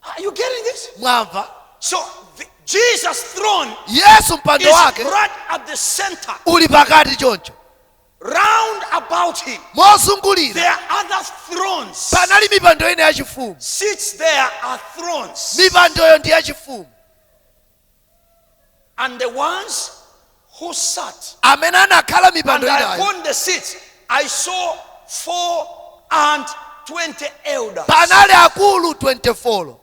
Are you getting this? mwamva So the, Jesus' throne yesu is mpando wake right at the center. uli pakati choncho Round about him, mozungulira there are other thrones. panali mipando ina yachifumu Seats there are thrones. mipandoyo ndi yachifumu And the ones who sat, amene anakhala mipando inayo upon the seats, I saw four and twenty elders. panali akulu 24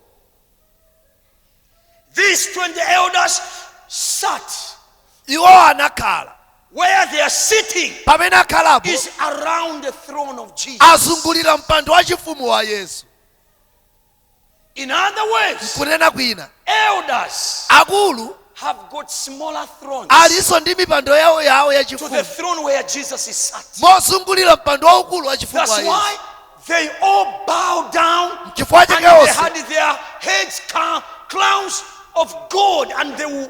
These twenty elders sat. iwo anakhala Where they are sitting pamene akhalapo is around the throne of Jesus. azungulira mpando wachifumu wa yesu In other words, mkunena kwina elders akulu have got smaller thrones alinso ndi mipando yawo yawo to the yachifumu throne where Jesus is sat. mozungulira mpando waukulu wa chifumu That's wa Yesu. why they all bow down and chifukwa chake they onse had their heads ca- crowns of gold and they will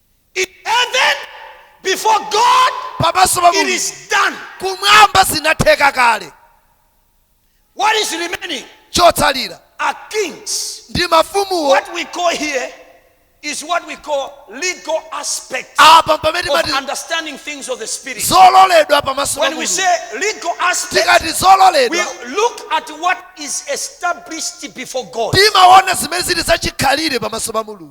Heaven before God, pamaso pa it mulungu is done. kumwamba zinatheka kale What is remaining chotsalira are kings. ndi mafumuwo What we call here is what we call legal aspects apa pamene of timati understanding things of the spirit. zololedwa pamaso pa When we mulungu say legal aspects, tikati we zololedwa look at what is established before God. timaona zimene zili zachikhalire pamaso pa mulungu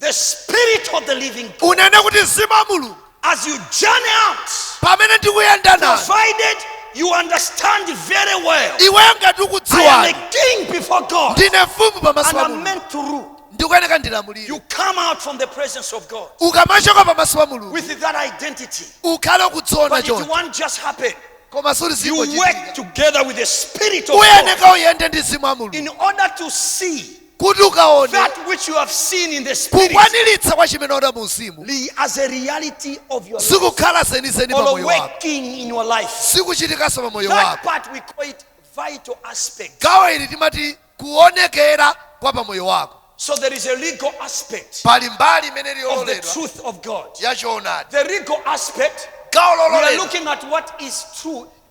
The spirit of the living God. unene kuti mzimu wa mulungu As you journey out, pamene ndikuyenda nanu provided you understand very well, iweyo ngati I am a ukudziwa king before God ndine mfumu pamaso and pa I'm mulungu meant to rule. ndikuyeneka You ndilamulire come out from the presence of God ukamachoka pamaso pa mulungu with that identity. ukhale ukudziona But it choncho won't just happen. koma sikuti You work zingochitika together with the spirit of God uyeneka uyende ndi mzimu wa mulungu in order to see kuti ukaone that which you have seen in the spirit kukwaniritsa kwa chimene waona mu mzimu li- as a reality of your life zikukhala zenizeni pa or moyo wako working in your life. zikuchitikanso pa moyo That wako part we call it vital aspect. gawo ili timati kuonekera kwa pa moyo wako So there is a legal aspect pali mbali imene of the ili yololedwa truth of God. ya choonadi The legal aspect, gawo we are lololedwa looking at what is true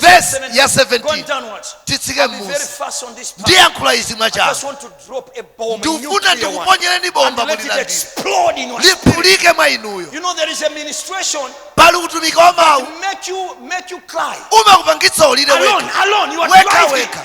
vesi ya 17 titsike mmusi ndiyankhula izi mwachangu ndikufuna ndikuponyereni bomba mulilandire liphulike mwa inuyo pali utumiki wa mawu umakupangitsa ulire wekha wekha wekha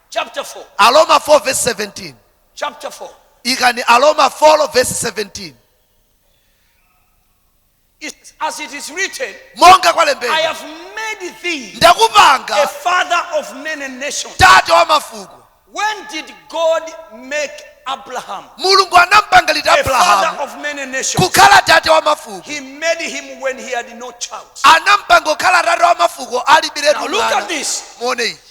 chapter 4, aroma 4 vesi 17 chapter 4. ikani aroma 4 vesi 17 It's as it is written, monga I kwalembedwa have made thee a ndakupanga kukhala father of many nations. tate wa mafuko When did God make Abraham mulungu anampanga liti a father abrahamu of many nations? kukhala tate wa mafuko He made him when he had no child. anampanga kukhala tate wa mafuko alibiretu Now look at mwana this. muone ichi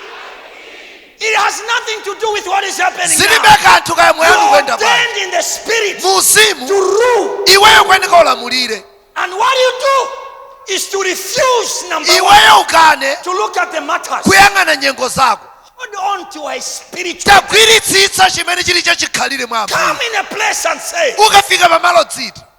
It has nothing to do with what is happening zilibe now. kanthu kaya moyo wanu You are ukuyenda bwanji ordained in the spirit mu uzimu to rule. iweyo ukuyenera ulamulire And what you do is to refuse, number one, iweyo ukane to look at the matters. kuyang'ana nyengo zako Hold on to a spiritual. tagwiritsitsa chimene chili chachikhalire mwa Come ambuye in a place and say, ukafika pamalo udziti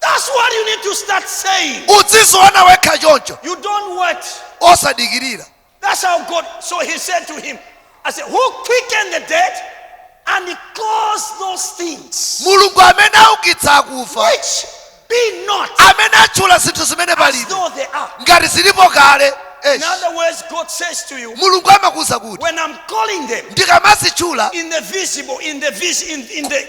That's what you need to start saying. udziziona wekha choncho You don't wait. osadikirira That's how God. So he said to him, I said, Who quickened the dead and he calls those things mulungu amene aukitsa akufa which be not amene atchula zinthu zimene as palibe though they are? ngati zilipo kale In other words, God says to you, mulungu amakuuza kuti When I'm calling them ndikamazitchula in the visible, in the vis- in, in the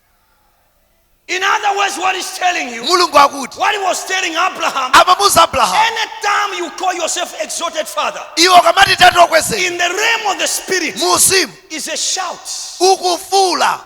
In other words, what he's telling you, mulungu akuti what he was telling Abraham, amamuza abrahamu anytime you call yourself exalted father, iwe ukamati tati okwezeka in the realm of the spirit mu uzimu is a shout. ukufuula